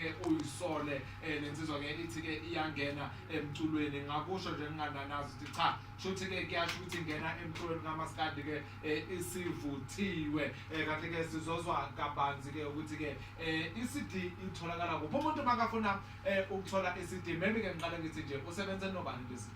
ke uyisole eh, nensizwa ke ithi ke iyangena emculweni ngakusho nje ngingananazi ukuthi cha shuthi ke kuyasho ukuthi ingena emculweni kamaskandi ke eh, isivuthiwe eh, kanti ke sizozwa kabanzi ke ukuthi ke i-cd itholakala kuphi umuntu makafuna ukuthola i-cd maybe ke ngiqale ngithi nje usebenze nobani le-cd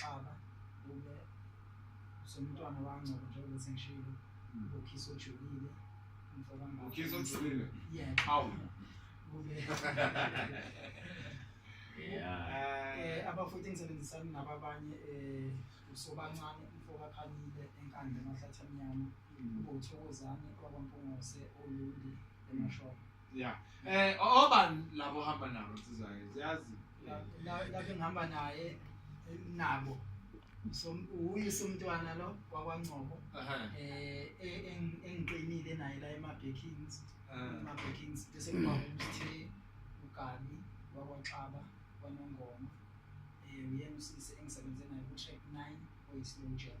Xaba kube usomntwana wangcobo njengoba sengishilo ukhisa ojulile umfoka mama Ukhisa ojulile? yeah Hawu. kube Yeah. eh abafuthi engisebenzisana nabo abanye eh usobancane umfoka khalile enkandla emahlathi amnyama ubuthokozane kwabampungose olundi emashoko Yeah. Eh obani labo hamba nabo sizayo. Siyazi. Lapho ngihamba naye eh, nabo. uye somntwana lo kwakwangcobo eh, eh engiqinile naye la ema-backings ah. ema-backings bese kuba umthe ugabi wakwaxaba kwanongoma um eh, uyena usisi engisebenze naye ku-track nine oyisilow jab